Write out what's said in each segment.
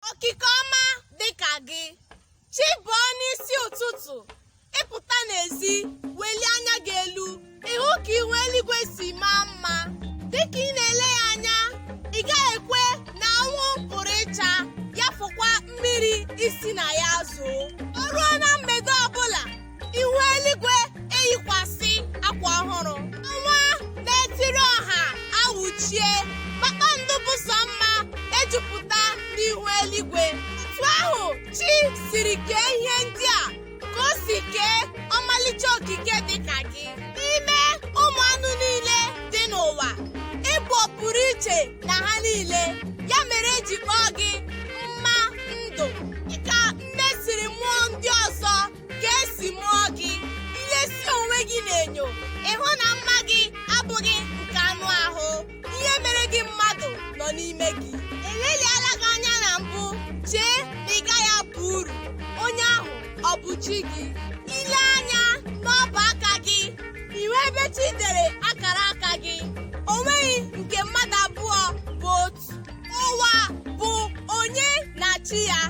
okike ọma dịka gị chi bọọ n'isi ụtụtụ ị pụta n'ezi welie anya gị elu ị hụ ka ihu eluigwe si maa mma dịka ị na-ele ya anya ị gaghị ekwe na anwụ pụrụ ịcha ya fọkwa mmiri isi na ya zoo ihu eluigwe eyikwasị akwa ọhụrụ ọnwa na-etiri ọha awụchie kpakpando bụ sọ mma ejupụta n'ihu eluigwe otu ahụ chi siri kee ihe ndị a ka o si kee ọmalịcha okike dị ka gị n'ime ụmụ anụ niile dị n'ụwa ị bụ pụrụ iche na ha niile ya mere e ji kpọọ gị nne siri mụọ ndị ọzọ ka e si mụọ gị i lesi onwe gị n'enyo ị hụ na mma gị abụghị nke anụ ahụ ihe mere gị mmadụ nọ n'ime gị e leliala gị anya na mbụ chee na ị gaghị aba uru onye ahụ ọ bụ chi gị i lee anya n'ọbụ aka gị ị hụ ebe chi dere akara aka gị o nweghị nke mmadụ abụọ bụ otu ụwa bụ onye na chi ya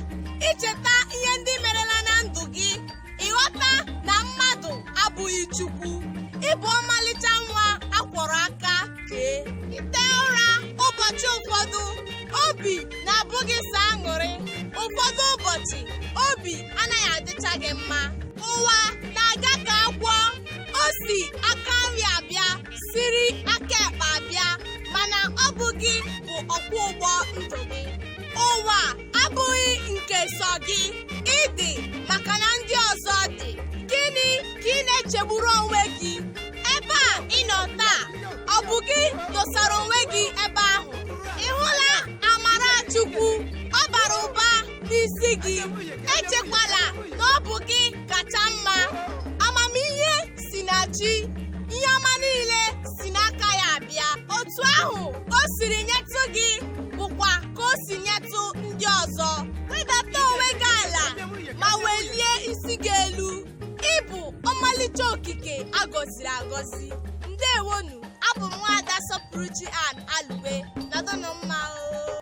i cheta ihe ndị merela na ndụ gị ị ghọta na mmadụ abụghị chukwu ị bụ ọmalịcha nwa a kwọrọ aka kee i te ụra ụbọchị ụfọdụ obi na-abụ gị sọ aṅụrị ụfọdụ ụbọchị obi anaghị adịcha gị mma ụwa na-aga ka agwọ o si aka nri abịa siri aka ekpe abịa mana ọ bụ gị bụ ọkwọ ụgbọ ndụ gị ụwa abụghị nke sọ gị ị dị maka na ndị ọzọ dị gịnị ka ị na-echegburu onwe gị ebe a ị nọ taa ọ bụ gị dosara onwe gị ebe ahụ n'isi gị echekwala na ọ bụ gị kacha mma amamihe si na chi ihe ọma niile si n'aka ya abịa otu ahụ o siri nyetụ gị bụkwa ka o si nyetụ ndị ọzọ wedata onwe gị ala ma welie isi gị elu ị bụ ọmalịcha okike a gọziri agọzi ndewonu abụ m nwaada sọpụrụchi an alụwe nọdụnụ mma o